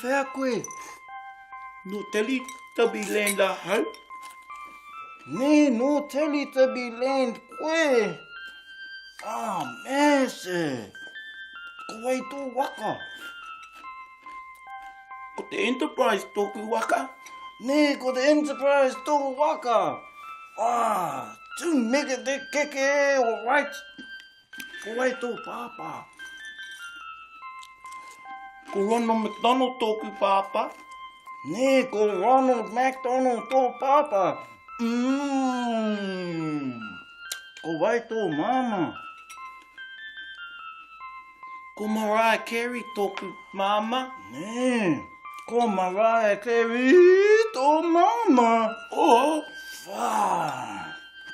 whea koe. No teli tabi land a hau. Ne, no teli tabi land koe. Ah, mese. Kowai tō waka. Kowai tō waka. Ko te Enterprise tōku waka. Nē, ko te Enterprise tō waka. Ah, tū meke te keke, all right. Ko wai tō pāpā? Ko Ronald McDonald tōku pāpā. Nē, ko Ronald McDonald tō pāpā. Mm. Ko wai tō māmā? Ko Mariah Carey tōku māmā. Nē. Ko Mariah Carey tō māmā. O, whā.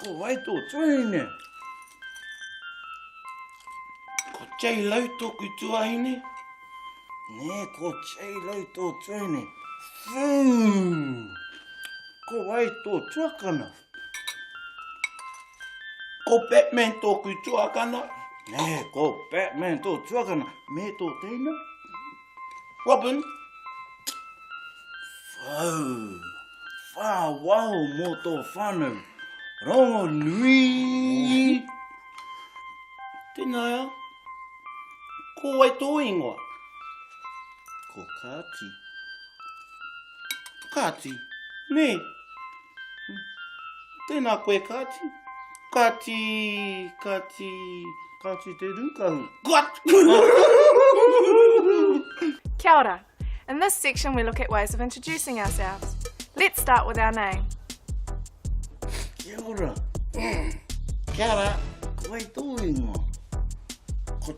Ko wai tō tuahine? Ko J-Lo tōku tuahine. Nē, ko J-Lo tō tuahine. Whū. Ko wai tō tuakana? Ko Batman tōku tuakana. Nē, ko Batman tō tuakana. Mē tō teina. Robin. Whau. Whā waho mō tō whānau. Rongo nui. Tēnāia. Ko wai tō ingoa? Ko Kāti. Kāti. Nē. Nē. Tēnā koe Kāti. Kāti, Kāti, Kāti te rūkahu. Kia ora. In this section we look at ways of introducing ourselves. Let's start with our name. Kia ora. Kia ora. Ko wai tō ingoa? Ko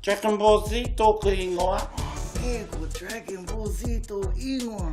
Dragon Ball Z tōku ingoa. E, ko Dragon Ball Z tō ingoa.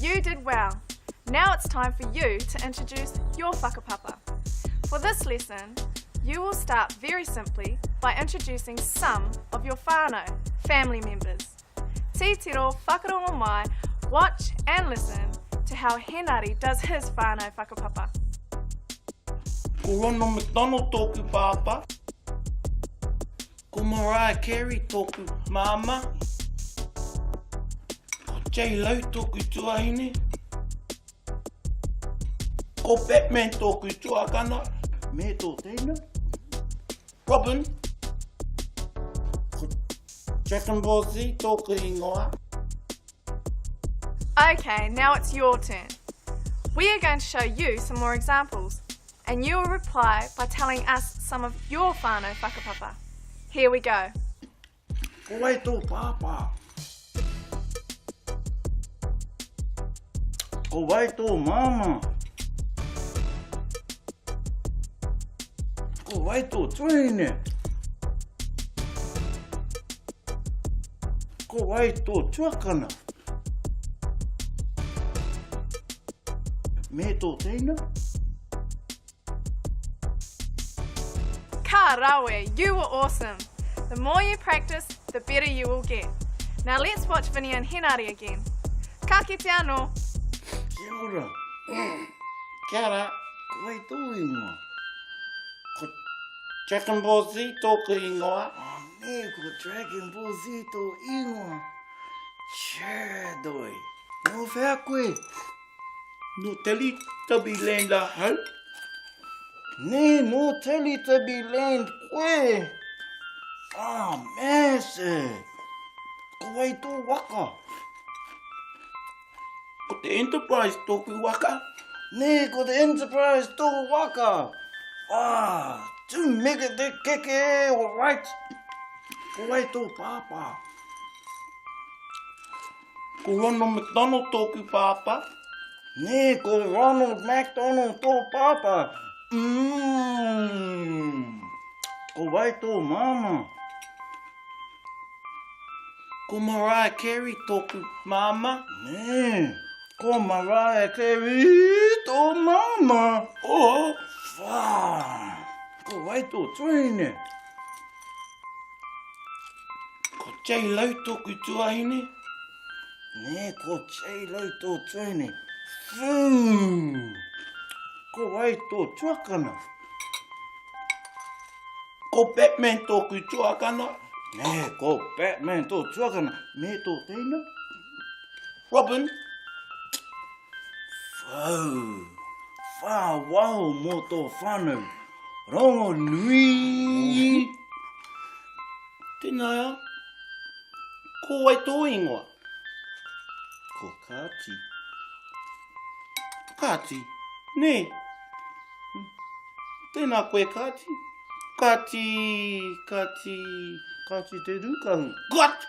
You did well! Now it's time for you to introduce your whakapapa. For this lesson, you will start very simply by introducing some of your whānau, family members. Titiro whakarongo mai, watch and listen to how Henari does his whānau whakapapa. Ko Ronald McDonald tōku pāpā. Ko Mariah Carey tōku māmā. Ko J-Lo tōku tuahine. Ko Batman tōku tuakana. Me tō teina. Robin. Ko Dragon Ball Z tōku ingoa. Okay, now it's your turn. We are going to show you some more examples. And you will reply by telling us some of your whānau whakapapa. Here we go! Ko wai tō pāpā? Ko wai tō māmā? Ko wai tō tuahine? Ko wai tō tuakana? Me tō teina. Ka rawe! You were awesome! The more you practice, the better you will get. Now let's watch Vinny and Henare again. Ka kite anō! Kia ora! Kia ra! Koe tō ingoa? Ko Dragon Ball Z tōku ingoa. Oh, nē, ko Dragon Ball Z tō ingoa. Cherdoi. Nō whea koe? Nō Teletubby Land ahau. Nē, nō Teletubby Land koe. Ah, mēse. Ko wai tō waka? Ko te Enterprise tōku waka. Nē, ko te Enterprise tō waka. Ah, tū meke te keke, all right. Ko wai tō pāpā? Ko Ronald McDonald tōku pāpā. Nē, ko Ronald McDonald tō pāpā. Mmm. Ko wai tō māmā? Ko Mariah Carey tōku māma. Nē, ko Mariah Carey tō māma. Oh, wā. Ko wai tō tuahine? Ko Jay Lau tōku tuahine. Nē, ko Jay Lau tō tuahine. Fū! Ko ai tō tuakana. Ko Batman tōku tuakana. Nē, ko Batman tō tuakana. Nē, tō teina. Robin. Fū! Whā waho mō tō whānau. Rongonui. Tēnā, ko wai tō ingoa? Ko Kāti. Kāti, nē. Tēnā koe, Kāti. Kāti, Kāti, Kāti te rūkahu. Kāti!